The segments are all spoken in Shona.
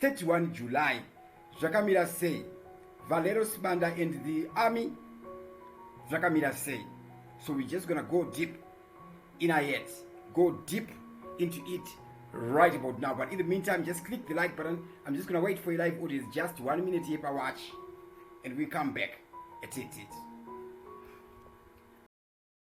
31 July zvakamira sei Valero Sibanda and the army zvakamira sei so we just gonna go deep in our heads go deep into it right about now but in the meantime just click the like button I'm just gonna wait for your live audience just one minute here per watch and we come back at it, it.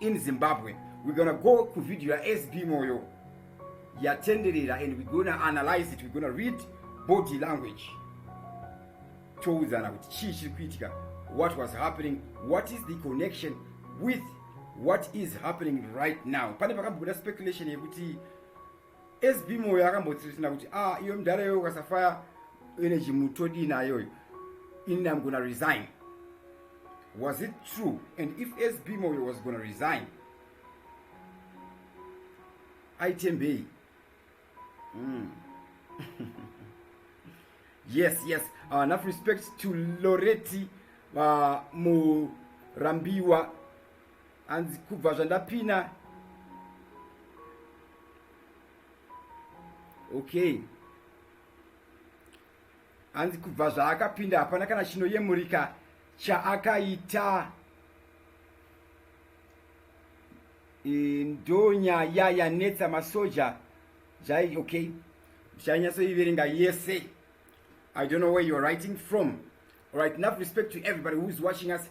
in zimbabwe we're gonna go ku video yasb moyo yatenderera and we're gonna analyze it we're gonna read body language toudzana kuti chii chiri kuitika what was happening what is the connection with what is happening right now pane pakambobuda speculation yekuti sb moyo akambotsirisina kuti a ah, iyo mudhara iyoyo ukasafaya energy mutodii nayoyo ini am gona resign was it true and if sb moyo was gona resign aitembei mm. yes yes uh, enough respect to loreti uh, murambiwa hanzi kubva zvandapina okay hanzi kubva zvaakapinda hapana kana chinoyemurika chaakaita e, ndonyaya yanetsa masoja jai okay uchanyatsoiverenga yese i don't know where youare writing from alright enough respect to everybody whois watching us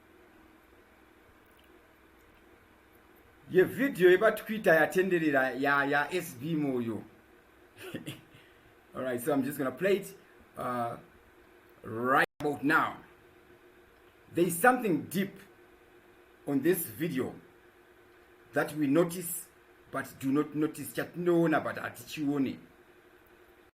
yevhidhiyo yepaTwitter yatenderera yaSB ya Moyo. All right, so I'm just going to play it uh, right about now. There is something deep on this video that we notice but do not notice chatinoona but hatichione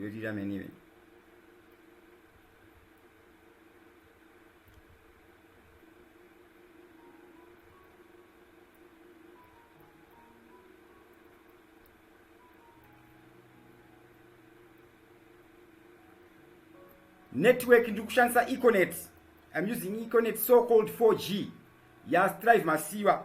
yotiita menive network ndiri kushandisa econet im using econet so called 4g yastrive masiva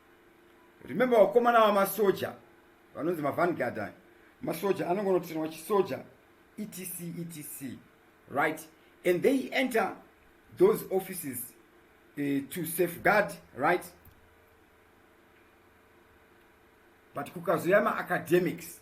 remember vakomana vamasoja vanonzi mavangard aya masoja anongonotiranwa chisoja etc etc right and they enter those offices uh, to safeguard right but kukazouya maacademics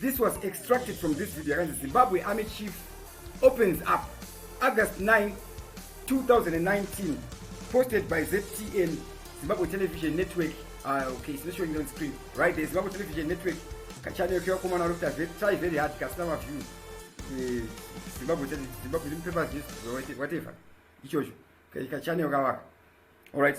This was extracted from this video yakanzi Zimbabwe Army Chief opens up August 9, 2019 posted by ZTN Zimbabwe Television Network uh, okay, it's not showing on screen right there Zimbabwe Television Network kachannel kevakomana vari kuita try very hard kasina maview eh, Zimbabwe Zimbabwe newspapers whatever ichocho kachannel kavaka all right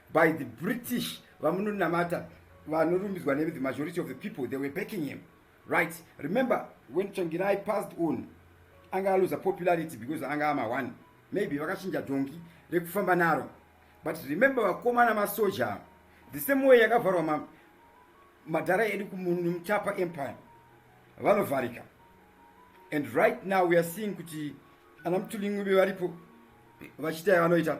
by the british vamunonamata vanorumbidzwa ne the majority of the people they were backing him right remember when changirai passed on anga aluza popularity because anga ama one maybe vakachinja dhongi rekufamba naro but remember vakomana masoja the same way yakavharwa ma, madhara edu kumuchapa empire vanovharika and right now weare seeing kuti ana mutulingwi vevaripo vachiita yavanoita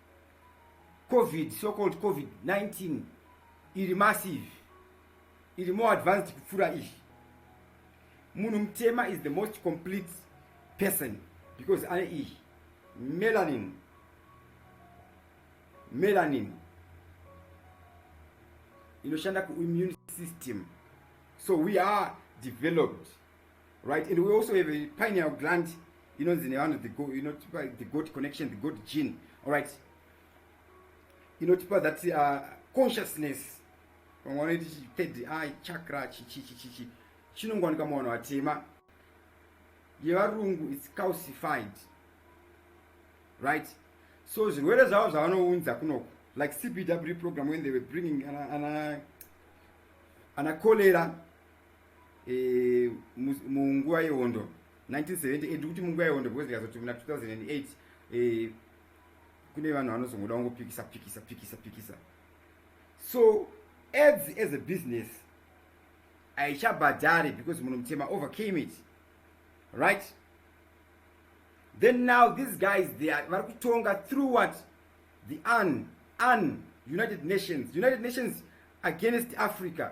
covid so called covid 19 iri massive iri more advanced kupfuura izvi munhu mutema is the most complete person because ane iyi melanin melanin inoshanda kuimmune system so we are developed right and we also have a pineal gland inonzi nevanhu the go inotipa the god connection the god gene all right inotipa that uh, consciousness vamwe vanoiti third eye chakra chichichichichi chinongowanika muvanhu vatema yevarungu its calcified right so zvirwere zvavo zvavanounza kunoku like cbw program when they were bringing ana, ana, ana cholera e, munguva yehondo 1978 kuti munguva yehondo because ndikazoti muna 2008 e, kune vanhu vanozongoda kungopikisa pikisa pikisa pikisa so ads as a business haichabhadhari because munhu mutema overcame it right then now these guys they are vari kutonga through what the un un united nations united nations against africa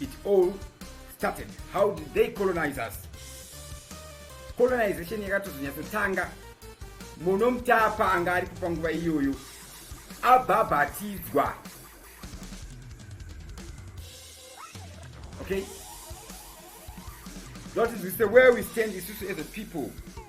it all started how did they colonize us colonization yakatozonyatsotanga muno mutapa anga ari kupa nguva iyoyo abhabhatidzwa okay that is the way we stand isusu as a people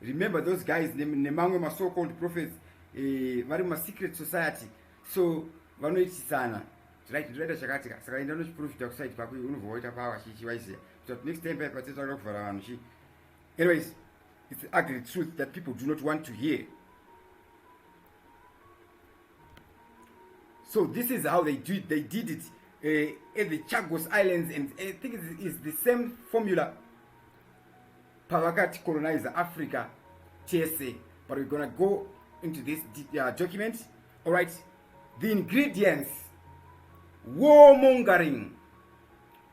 remember those guys nemamwe ma so called prophets eh, vari mu secret society so vanoitisana tiraita chakati ka saka enda unochiprofita kuside kwako unobva waita power chichi waiziva kuti next time paipa titaura kuvhara vanhu chi anyways it's the ugly truth that people do not want to hear so this is how they do it they did it uh, at the chagos islands and i think it's, it's the same formula pavakati colonize africa tese but we're gonna go into this uh, document all right the ingredients war mongering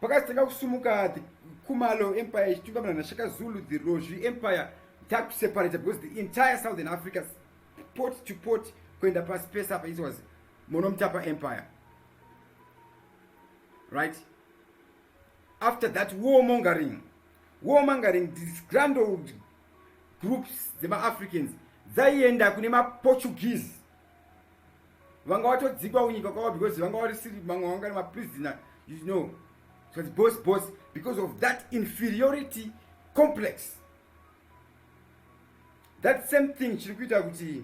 pakazitanga kusumuka the kumalo empire ichitungamirwa nashaka zulu the rozvi empire takuseparator because the entire southern africa port to port kuenda pasi pese apa it was monomtapa empire right after that war mongering war mongering this grand old groups dzemaafricans dzaienda kune maportuguese vanga vatodzikwa kunyika kwavo because vanga varisiri mamwe vanga nemaprisoner you know so the boss boss because of that inferiority complex that same thing chiri kuita kuti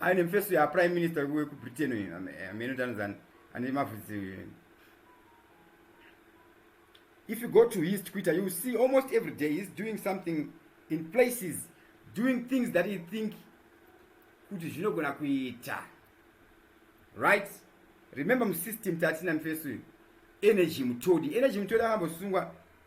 aine mfeso yaprime minister wekubritain uyu ameno tanzani ane mavhudzi uyu if you go to his twitter you see almost every day he's doing something in places doing things that he think kuti zvinogona kuita right remember musystem tatina mfeso uyu energy mutodi energy mutodi akambosungwa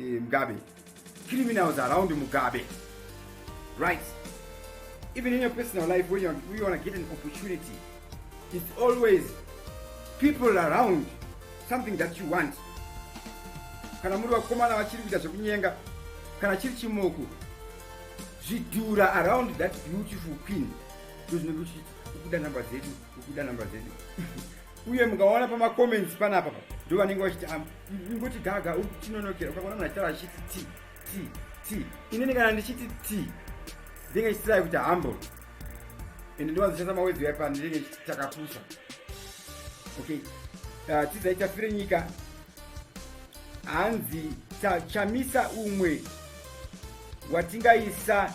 eh, mugabe criminals around mugabe right even in your personal life when you, you want to get an opportunity it's always people around something that you want kana muri vakomana vachiri kuita zvekunyenga kana chiri chimoko zvidhura around that beautiful queen ndozvinenge uchiti ukuda number dzedu ukuda number dzedu uye mukaona pamacomments panapa ndo vanenge vachiti ah, ngoti gaga uchinonokera ukaona munhu achitaura achiti t t t inini kana ndichiti t ndinge ndichitirai kuti humble and ndiwanzoshandisa mawedzi yaipa ndinenge ndichitakapusa okay ah, tidzai tafire nyika hanzi chamisa umwe watingaisa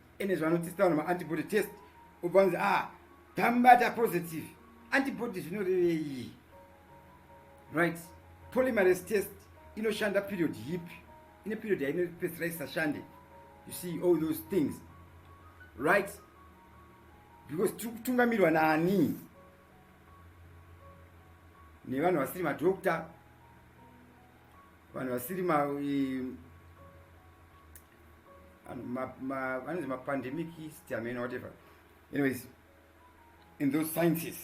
ene zvavanotesta vanhu maantibody test ubva vanzi a ah, tambata positive antibody zvinorevei right polymerase test inoshanda period yipi ine period yainopedzisira isashande you see all those things right because tiri kutungamirwa naani nevanhu vasiri madokta vanhu vasiri ma eh, anonzi mapandemic stiameno whatever anyways in those sciences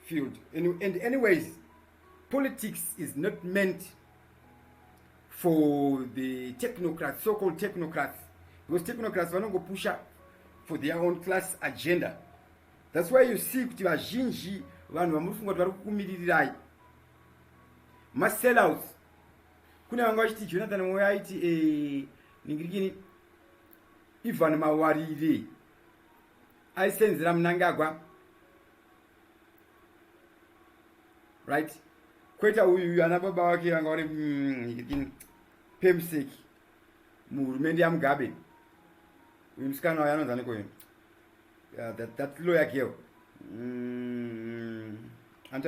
field and anyways politics is not meant for the technocrats so called technocrats because technocrats vanongopusha for their own class agenda that's why you see kuti vazhinji vanhu vamuri funga kuti vari kukumirirai masellouts kune vanga vachiti jonathan moyo aiti eh, ningirikini ivan mawarire aisenzera munangagwa right kweta uyu uyu ana baba wake vanga vari mm, ningirikini pemsek muhurumende yamugabe uyu musikana wayo anonzi anikoyo uh, that, that lawyer girl mm, anti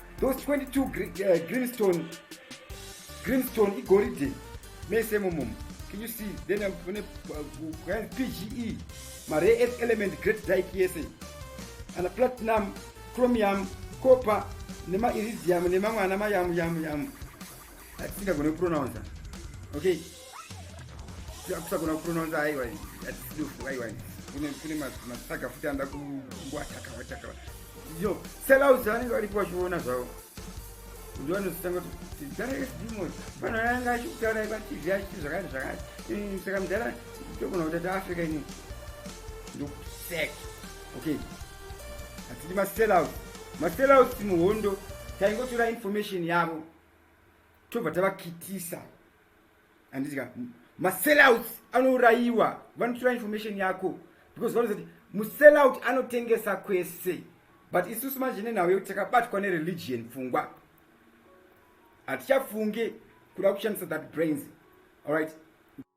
those 22 gre, uh, greenstone greenstone igoridhe mese momomo can you see then uh, kune uh, pge mare earth element great dike yese ana platinum chromium copper nemairidium nemamwe ana mayamu yamu yamu, yamu. hatisingagone kupronounce okay kusagona kupronounce aiwa hatisidofu aiwa kune masaga futi anoda kuwatakavataka yo sellouts vanenge varipo vachiona zvavo ndivanozotanga kuti mdhara esdimo vanhu ayanga achikutaura ipatv achiti zvakati zvakati saka mdhara togona kuti taafrica ini ndokusek okay hatidi masellouts masellouts muhondo taingotora information yavo tobva tavakitisa handidika masellout anourayiwa vanotora information yako because vanoza kuti musellout anotengesa kwese but isusu manje nenhau yekuti takabatwa nereligion pfungwa hatichafunge kuda kushandisa that brains allright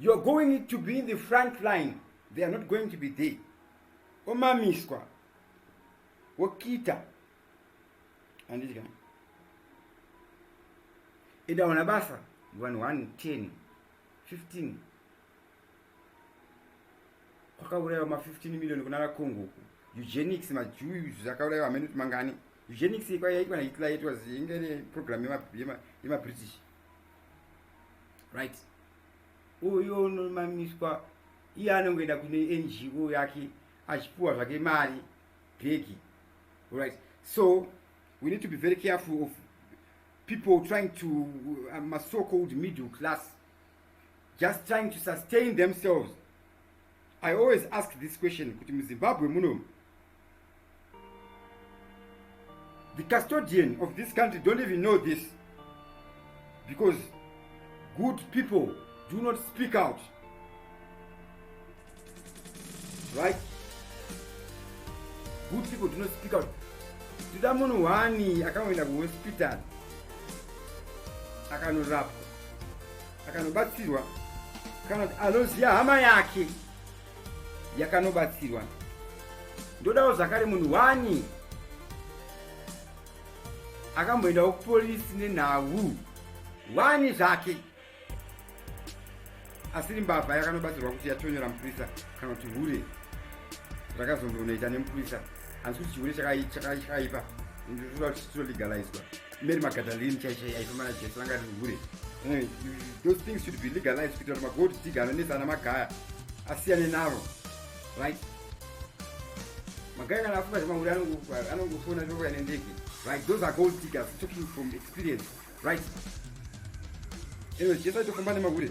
you are going to be in the front line they are not going to be there omamiswa wokita andidya enda wana basa vanhu 1 10 15 kwakaurayiwa ma15 million kuna vakongo uku eugenics majuyu zvakaurayiwa amene kuti mangani eugenics ikwa yaitwa nahitler yaitwa inge ne program yemabritish yema right uyo unomamiswa iye anongoenda kune ngo yake achipiwa zvake mari bhegi right so we need to be very careful of people trying to uh, masocold middle class just trying to sustain themselves i always ask this question kuti muzimbabwe munomu the custodian of this country don't even know this because good people do not speak out right good people do not speak out tida munhu wani akangoenda kuhospital akanorapwa akanobatsirwa kana kuti anoziva hama yake yakanobatsirwa ndodawo zvakare munhu wani akamboendawo kupolisi nenhau wani zvake asiri mbavha yakanobatsirwa kuti yatonyora mupurisa kana kuti hure rakazombonoita nemupurisa hanzi kuti chihure chakaipa ndotoda kuti chitolegalizwa Mary Magdalene chaicho yaifamba naJesu vanga vari hure. Eh, those things should be legalized kuitira kuti magold digger anonetsa ana magaya asiyane navo. Right? Magaya kana afunga zvemahure anongofona zvokwa ine ndege. Right? Those are gold diggers talking from experience. Right? Anyway, Jesu aitofamba nemahure.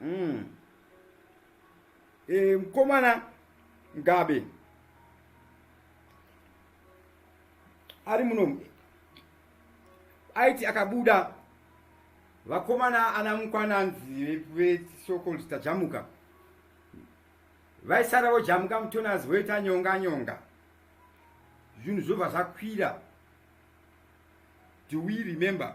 mm. e, mkomana ngabe ari muno aiti akabuda vakomana ana mukwana anzi vesokol tajamuka vaisara vojamuka mutonas voita nyonga nyonga zvinhu zvobva zvakwira do we remember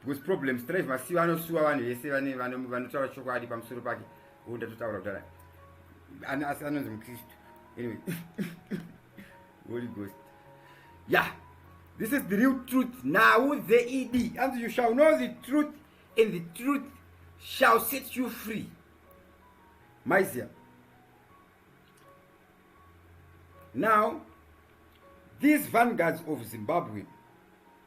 because problem strive masiva anosuwa vanhu vese vanotaura chokwadi pamusoro pake o ndatotaura kudara asi anonzi mukristu anyway holy ghost ya yeah. this is the real truth now the ed and you shall know the truth and the truth shall set you free maizia now these vanguards of zimbabwe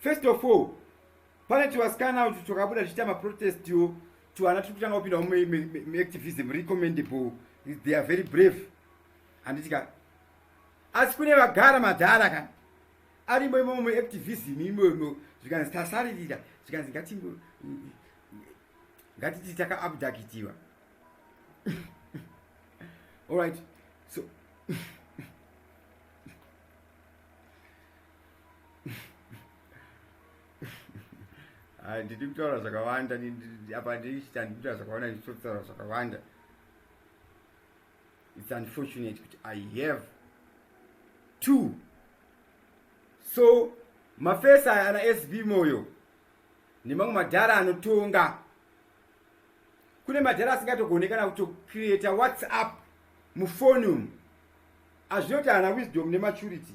first of all pane tuvasikana utu twakabuda tichiita maprotestiwo tuvana tiri kutanga kupindawo muactivism recommendable they are very brave handiti ka asi kune vagara madhara ka arimo imomo muactivism imomo zvikanzi tasaririra zvikanzi ngati ngatiti takaabdakitiwa allright so Ah, ndidi kutaura zvakawanda apa ndichita ndidi kutaura zvakawanda ndichitotaura zvakawanda its unfortunate kuti i have two so mafesi aya ana sb moyo nemamwe madhara anotonga kune madhara asingatogone kana kutocreata whatsapp mufoni umu azvinoti ana wisdom nematurity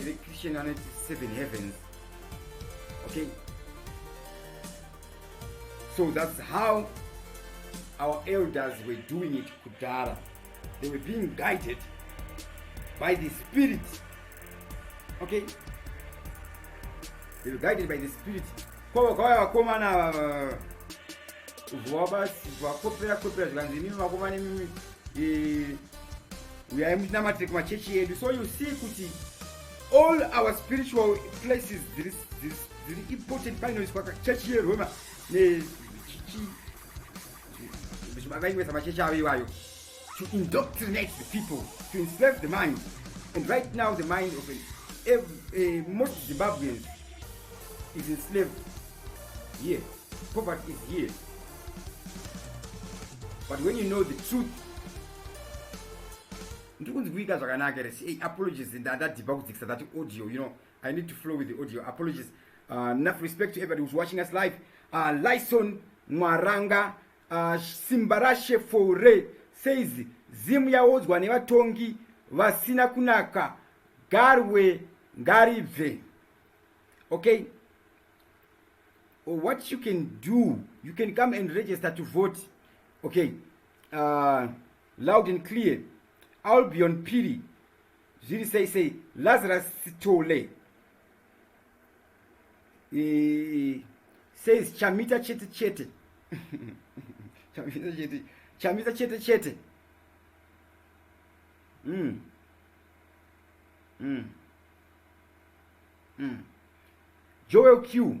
electrician anoti seven heavens okay so that's how our elders were doing it kudhara they were being guided by the spirit okay they were guided by the spirit kwava kwava vakomana ava vavabasi vakopera kopera zvikanzi imimi vakomana imimi eh, uyai mutinamatire kumachechi edu so you see kuti all our spiritual places dziri important painoiswa kachechi yeroma vaingoisa machechi avo iwayo to indoctrinate the people to enslave the mind and right now the mind of a, a, most zimbabweans is enslaved here poverty is here but when you know the truth ndiri kunzi kuita zvakanaka here hey, apologies ndadhipa kudzikisa that audio you know i need to flow with the audio apologies uh, enough respect to everybody who's watching us live uh, lyson mwaranga uh, simba rashe fore says zimu yaodzwa nevatongi vasina kunaka garwe ngaribve okay what you can do you can come and register to vote okay uh, loud and clear albion piri zviri sei sei lazarus sitole e, says chamita chete chete chamita chete chamita chete chete mm. Mm. Mm. joel q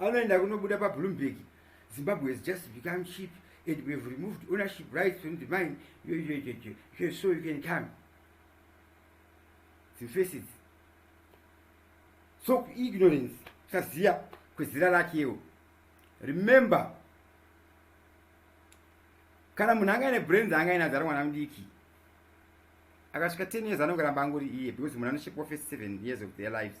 anoenda kunobuda pabloomberg zimbabwe has just become cheap and we have removed ownership rights from the mine so you can come dzimfesis so ignorance kusaziva kwezira rakewo remember kana munhu anga ine brains anga ina zara mwana mudiki akasvika 10 years anonge ramba angori iye because munhu anoshepwa first 7 years of their lives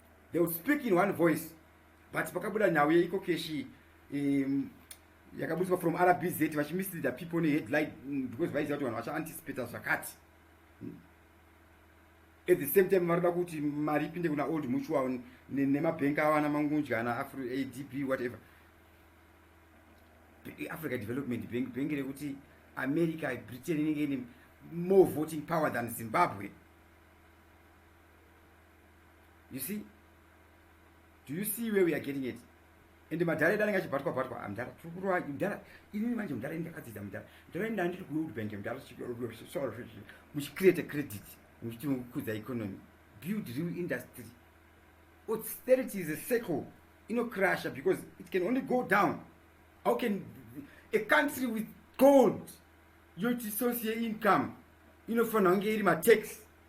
they would speak in one voice but pakabuda nhau yeiko keshi um, yakabudiswa from rbz vachimisleada people neheadline mm, because vaiziva kuti vanhu vachaanticipata zvakati hmm. at the same time vanoda kuti mari ipinde kuna old mutual nemabhenk avo ana mangundya ana adb whatever africa development bank bhengi rekuti america britain inenge ine more voting power than zimbabwe you see do you see where we are getting it ende madhara edu anenge achibhatwa bhatwa ah, mdhara tiri kurova mdhara inini manje mdhara ini ndakadzidza mdhara mdhara ini andiri kunowood bank mdhara muchicreate credit muchiti mukudza economy build real industry austerity is a circle inocrusher because it can only go down how can a country with gold yoti source yeincome inofanira kunge iri matax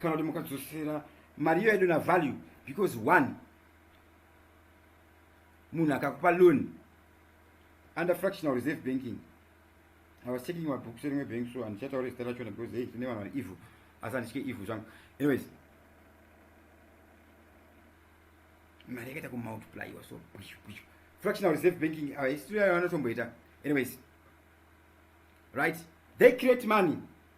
kana kuti mukadzosera mari iyo yaidona value because one munhu akakupa loan under fractional reserve banking i was checking mabooks erimwe bank so handichataura zita rachona because hey tine vanhu vari evil asi handitye evil zvangu anyways mari yakaita kumultiplyiwa so bwishu bwishu fractional reserve banking uh, history yayo anotomboita anyways right they create money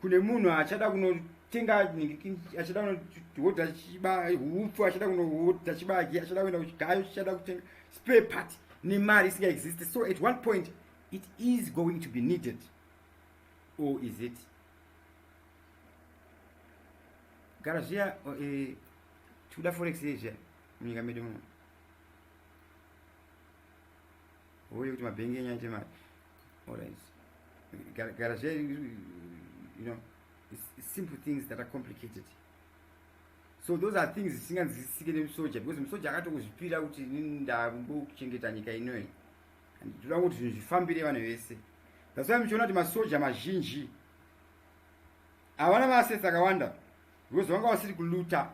kune munhu achada kunotenga achada kunohodha chiba hupfu achada kunohodha chibage achada kuenda kuchigayo chichada kutenga spare part nemari isingaexist so at one point it is going to be needed or is it gara zviya eh, tikuda forex ye zviya munyika medu muno hoye kuti mabhengi enyu aite mari Alright. Garage, you know, it's, it's simple things that are complicated. So those are things zisinganzwisisike nemusoja because musoja akatokuzvipira kuti inini ndakuchengeta nyika inoyi and toda kuti zvinhu zvifambire vanhu vese that's why muchiona kuti masoja mazhinji havana maasesi akawanda because vanga vasiri kuluta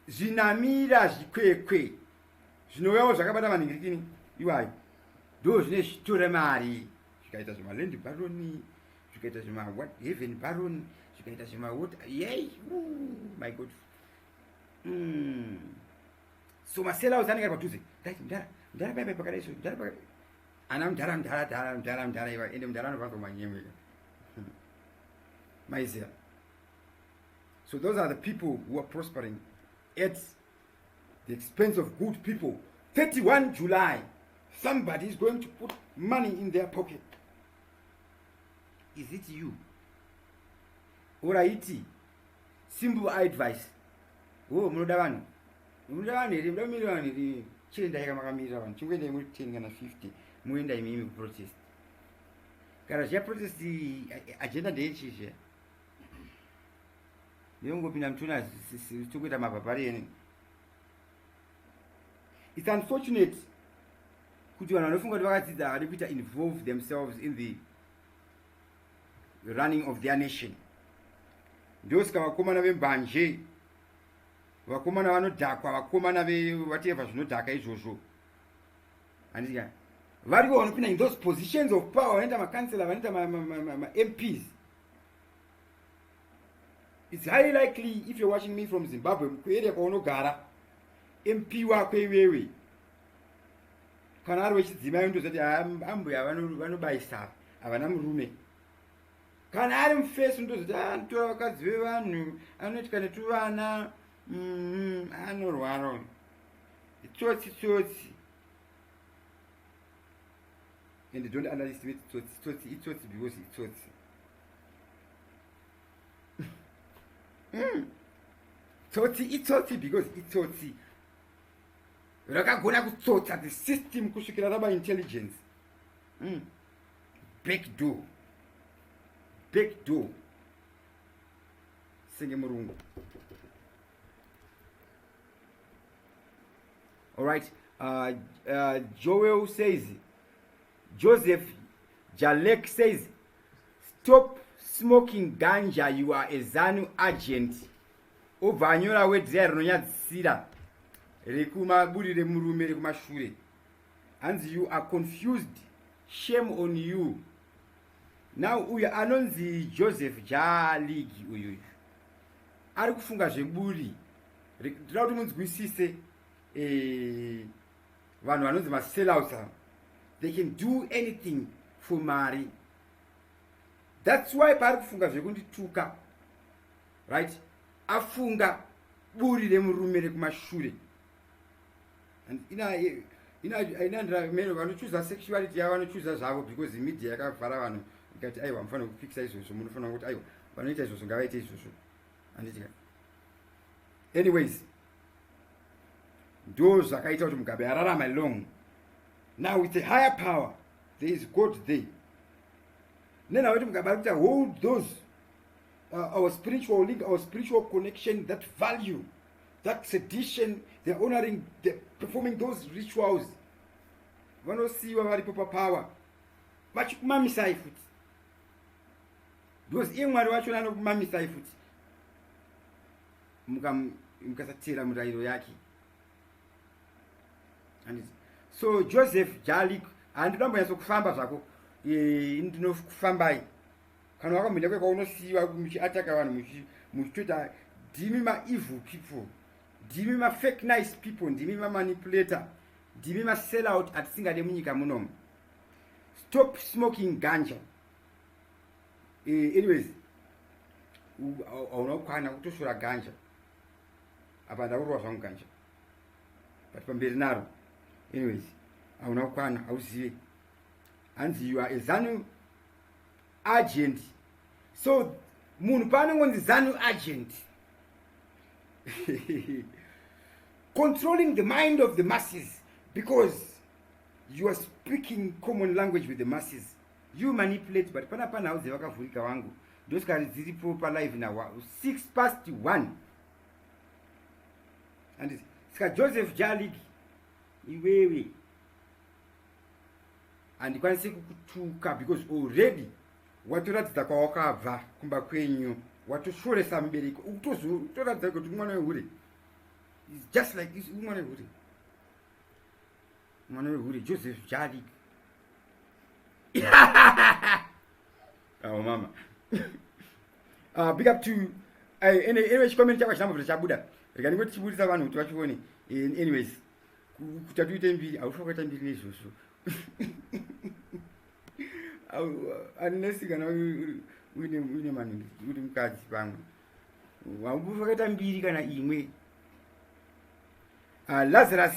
zvinamira zvikwekwe zvinouyavo zvakabata manhingirikini iwayo ndo zvine zvitora mari zvikaita zvemaland baroni zvikaita zvemaheaven baroni zvikaita zvemawot yei my god mm. so maselaos anenge ari padhuze dati mdara mdara baibai pakadai so mdara pakadai ana mdara mdara dara mdara mdara iwa ende mdara anobva kumanyemweka maizera so those are the people who are prospering at the expense of good people 31 july somebody is going to put money in their pocket is it you oraiti simple advice o oh, munoda vanhu munoda vanhu here muda kumira vanhu here chiendai kamakamirira vanhu chingoendai muri 10 kana 50 moenda imimi kuprotest kana zviya protest agenda ndeyechizviya yongopinda mutuna tikuita mabhabhari yeni its unfortunate kuti vanhu vanofunga kuti vakadzidza havadi kuita involve themselves in the running of their nation ndosika vakomana vembanje vakomana vanodhakwa vakomana vateva zvinodhaka izvozvo anditika variko vanopinda in those positions of power vanoita macancela vanoita mamps ma, ma, ma, ma, It's highly likely if you're watching me from Zimbabwe kueria kwaunogara MP wako iwewe kana ari wechidzimai unotoziva kuti ah, ambuya vanobayisa havana murume kana ari mufesi unotoziva kuti ah, anotora vakadzi vevanhu anoitika netuvana mm, anorwaro itsotsi tsotsi and don't underestimate itsotsi itsotsi itsotsi because itsotsi mm. tsotsi itsotsi because itsotsi rakagona kutsotsa the system kusvikira raba intelligence mm. back door back door senge murungu all right uh, uh, joel says Joseph Jalek says stop smoking ganja you are a zanu agent obva anyora wedhira rinonyadzisira rekumaburi remurume rekumashure hanzi you are confused shame on you now uyu anonzi joseph jaligi uyu ari kufunga zveburi tinoda kuti munzwisise eh, vanhu vanonzi masellouts ava they can do anything for mari thats why paari kufunga zvekundituka right afunga buri remurume rekumashure inandirameno vanochuza sexuality yavo vanochuza zvavo because media yakavhara vanhu ikati aiwa mufanira kupikisa izvozvo munofanira kuti aiwa vanoita izvozvo ngavaite izvozvo anditika anyways ndo zvakaita kuti mugabe ararama long now with a higher power there is god there nena kuti mugabe ari kuita hold those uh, our spiritual link our spiritual connection that value that tradition they're honoring the performing those rituals vanosiyiwa varipo papower vachikumamisai futi because iye mwari vachona anokumamisai futi mukasatera murayiro yake so joseph jalik handina mbonyatso kufamba zvako e, ndinofambai kana wakamhenda kweka unosiyiwa muchiataka vanhu muchitoita ndimi maevil people ndimi mafake nice people ndimi mamanipulator ndimi masellout atisingade munyika munomu stop smoking ganja eh, anyways hauna kukwana kutosvura ganja apa ndakurova zvangu ganja but pamberi naro anyways hauna kukwana hauzive hanzi you are a zanu agent so munhu paanongonzi zanu agent controlling the mind of the masses because you are speaking common language with the masses you manipulate but pana pana hauze vakavhurika wangu ndosikari dziri po palive na six past one andis sika joseph jalig iwewe handikwanisi kukutuka because already watoratidza kwawakabva kumba kwenyu watoshoresa mubereki ukutoratidza kuti mwana wehure just like mwana wehure mwana wehure joseph jalik awo mama uh, big up to eh, anyway chikomeni chako china mabvira chabuda rega ndingo tichibudisa vanhu kuti vachione eh, anyways kuta tuite mbiri haufa kuita mbiri nezvozvo anesi kana uine manhu uri mukadzi pamwe haufa kuita mbiri kana imwe ah, lazarus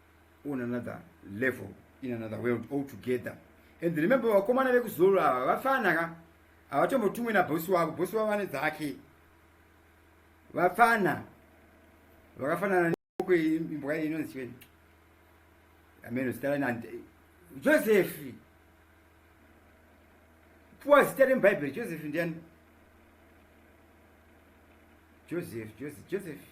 on another level in another world all together and remember vakomana vekuzoro ava vafana ka havatombotumwe nabhosi wavo bhosi wavo vane dzake vafana vakafanana imbwa inonzi chiveni ameno zita rani josefi puwa zita remubhaibheri josefi ndiani josefi josefi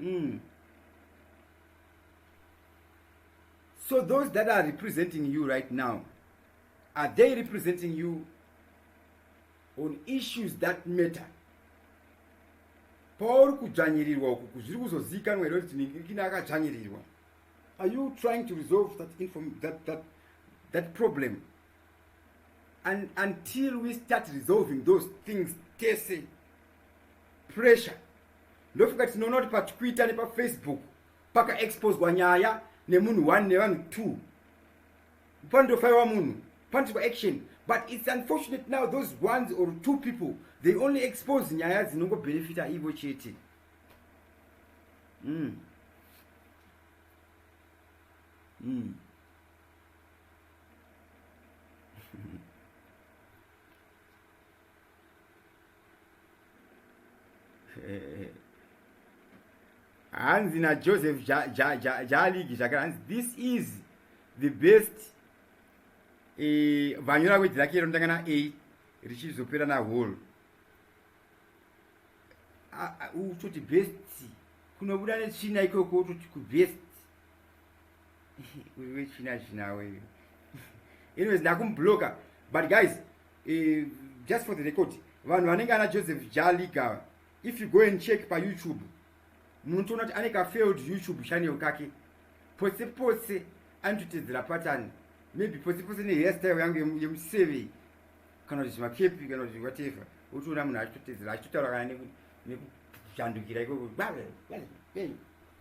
mm. so those that are representing you right now are they representing you on issues that matter pauri kudzvanyirirwa uku kuzviri kuzoziikanwa here kuti nikina akadzvanyirirwa are you trying to resolve that, inform, that, that, that problem and until we start resolving those things tese pressure ndofunga tinoona kuti patwitter nepafacebook pakaexposwa nyaya nemunhu one nevanhu two panotofaiwa munhu panotiwa action but its unfortunate now those ones or two people they only expose nyaya dzinongobhenefita ivo chete mm. Mm. hanzi najoseph jaligi zvakare hanzi this is the best eh, vanyora kwedzi rake rinotanga na a richizopera na hall utoti best kunobuda netsvina ikoko utoti kubest uyu wechina china weyu anyways ndakumubloka but guys uh, just for the record vanhu vanenge ana joseph jaliga if you go and check payoutube munotoona kuti ane kafailed youtube channel kake pose pose anototedzera patani maybe pose pose nehairstyle yangu yemuseve kana kuti zvimakepi kana kuti whatever otoona munhu achitotedzera achitotaura kana nekujandukira ikoko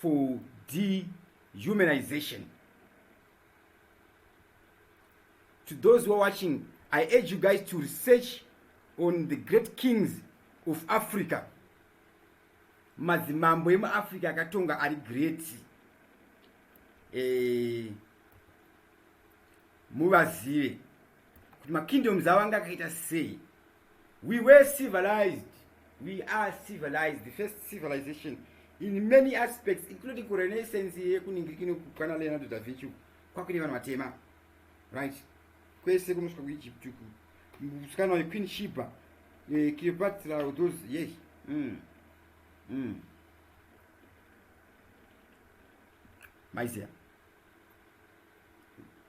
for dehumanization to those who are watching i urge you guys to research on the great kings of africa madzimambo emuafrica akatonga ari great eh, muvazive kuti makingdoms avo anga akaita sei we were civilized we are civilized the first civilization in many aspects including kurenaissance yekuningirikino kukwana leonardo da vinci kwakune vanhu vatema right kwese kunosvika kuegypt uku musikana wequeen shiba eh, cleopatra those yes mm. Mm. maizia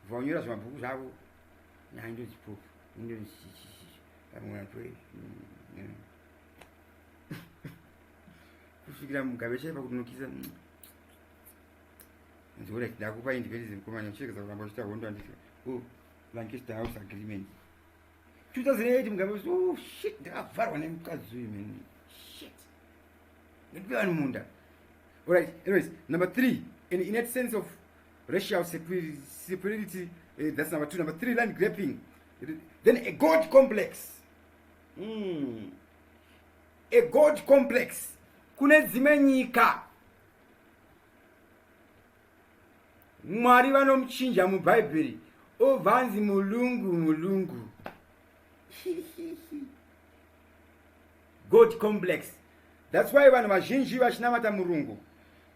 kubva vanyora zvimabhuku zvavo nyaya ndodzipupu kusvikira mugabe chaipa kutinokisa nziwona chida kupa independence mukomana chirekeza kuramba chita hondo anditi oh, lancaster house agreement 2008 mugabe oh, shit ndakavharwa nemukadzi uyu man shit nekupe vanhu munda alright anyways number three an innate sense of racial superiority uh, that's number two number three land grabbing then a god complex mm. a god complex kune dzimwe nyika mwari vanomuchinja mubhaibheri obvanzi mulungu mulungu god complex thats why vanhu vazhinji vachinamata murungu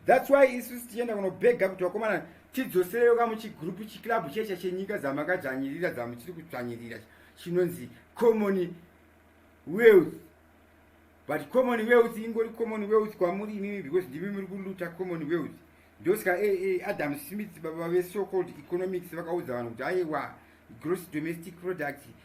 thats why isu sitichienda kunobhega kuti vakomana tidzosereyo ka muchigrupu chiclub checha chenyika dzamakadzvanyirira dzamuchiri kudzvanyirira chinonzi common wealth but common wealth ingori common wealth kwamuri imimi because ndimi muri kuluta common wealth ndosaka eh, eh, adam smith baba veso called economics vakaudza vanhu kuti aiwa gross domestic product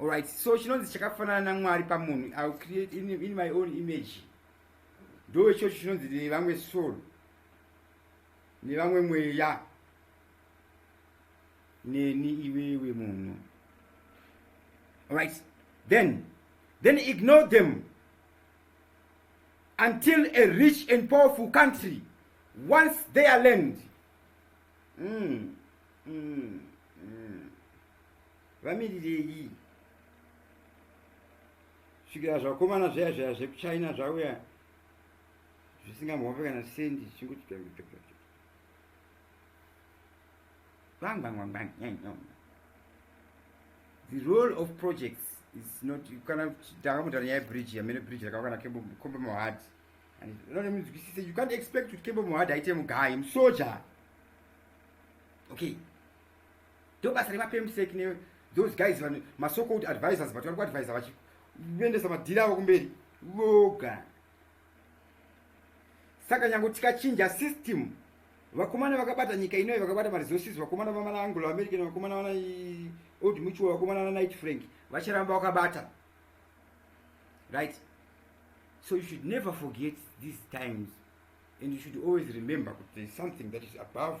alright so chinonzi chakafanana namwari pamunhu ill create in, in my own image ndo ichocho chinonzi nevamwe soul nevamwe mweya neni iwewe munhu alright then then ignore them until a rich and powerful country once their land mm. Mm. vamirirei svikira zvakomana zvaya zvaya zvekuchina zvauya zvisingamhope kana sendi the role of projects is not kana takamutana nyaya yebridge yamene bridge rakava kana kombe mohad anonemunzwisise you can't expect kuti kembe mohad aite mugayi musoja okay ndo basa remapemsek ne those guys vane masoko kuti advisors but vari kuadvisa vachiendesa madhiri avo kumberi voga saka nyange tikachinja system vakomana vakabata nyika inoyi vakabata maresources vakomana vamana anglo american vakomana vana old mutual vakomana vana night frank vacharamba vakabata right so you should never forget these times and you should always remember kuti there's something that is above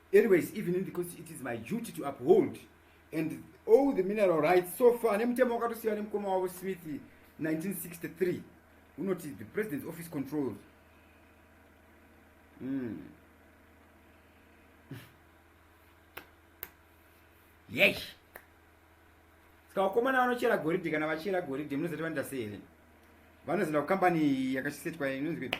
Anyways, even in the course, it is my duty to uphold and all the mineral rights so far. Nemutemo wakatosiwa nemukoma wavo Smith 1963 unoti the president's office controls. Mm. Yes. Ska wakomana vanochera goridhe kana vachera goridhe munozoti vanoita sei here? Vanozoenda kukambani yakachisetwa inonzi kuti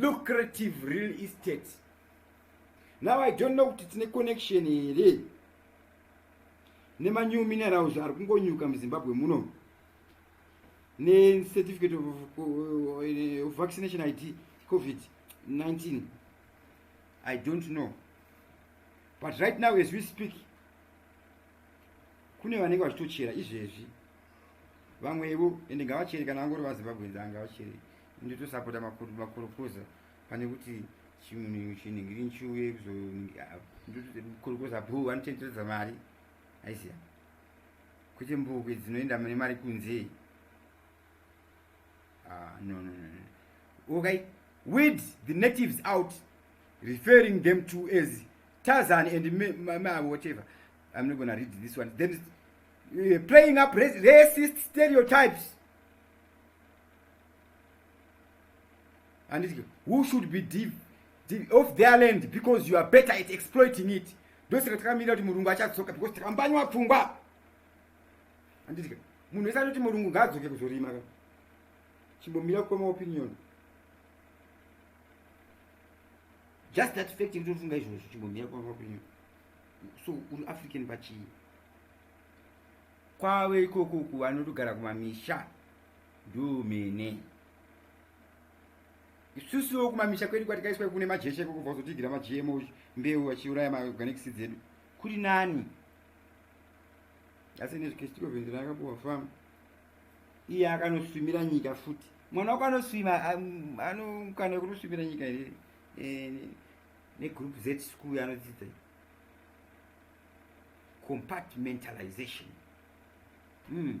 lucrative real estate now i don't know kuti tine connection here nemanew minerals ari kungonyuka muzimbabwe muno necertificate of, eh, of vaccination id covid 19 i don't know but right now as we speak kune vanenge vachitochera izvezvi vamwevo ende ngavachere kana vangori vazimbabwenzi angavachere nditosapota makorokoza pane kuti chimunhu chinhingiri nchiuye kuzokorokoza bhu vanotendedza mari aiziva kwete mbukwe dzinoenda mune mari kunze ah, no no no okay weed the natives out referring them to as tazan and whatever i'm not gonna read this one then uh, playing up racist stereotypes handiti who should be div, div, of their land because you are better at exploiting it ndosaka takamirira kuti murungu achadzoka because takambanywa pfungwa handiti munhu wese anoti murungu ngaadzoke kuzorima ka chimbomira kukoma opinion just that fact yekuti unofunga izvozvo chimbomira kukoma opinion so uri african pachii kwave ikoko uku vanotogara kumamisha ndumene isusuwo kumamisha kwedu kwatikaiswa kune majecha iko kubva kuzotigira magmo mbeu achiuraya maorganics dzedu kuri nani asi nezvikestiko vende rakabuwa fam iye akanoswimira nyika futi mwana wako anoswima anokana kunoswimira nyika here eh, negroup z school anodzidza compartmentalization mm.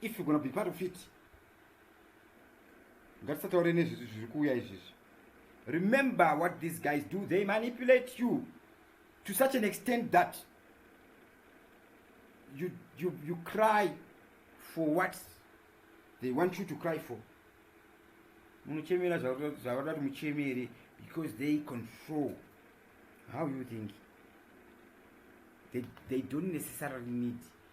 if you're gonna be part of it ngatisataure nezvizvi zviri kuuya izvizvi remember what these guys do they manipulate you to such an extent that you, you, you cry for what they want you to cry for munochemera zvavada kuti muchemere because they control how you think they, they don't necessarily need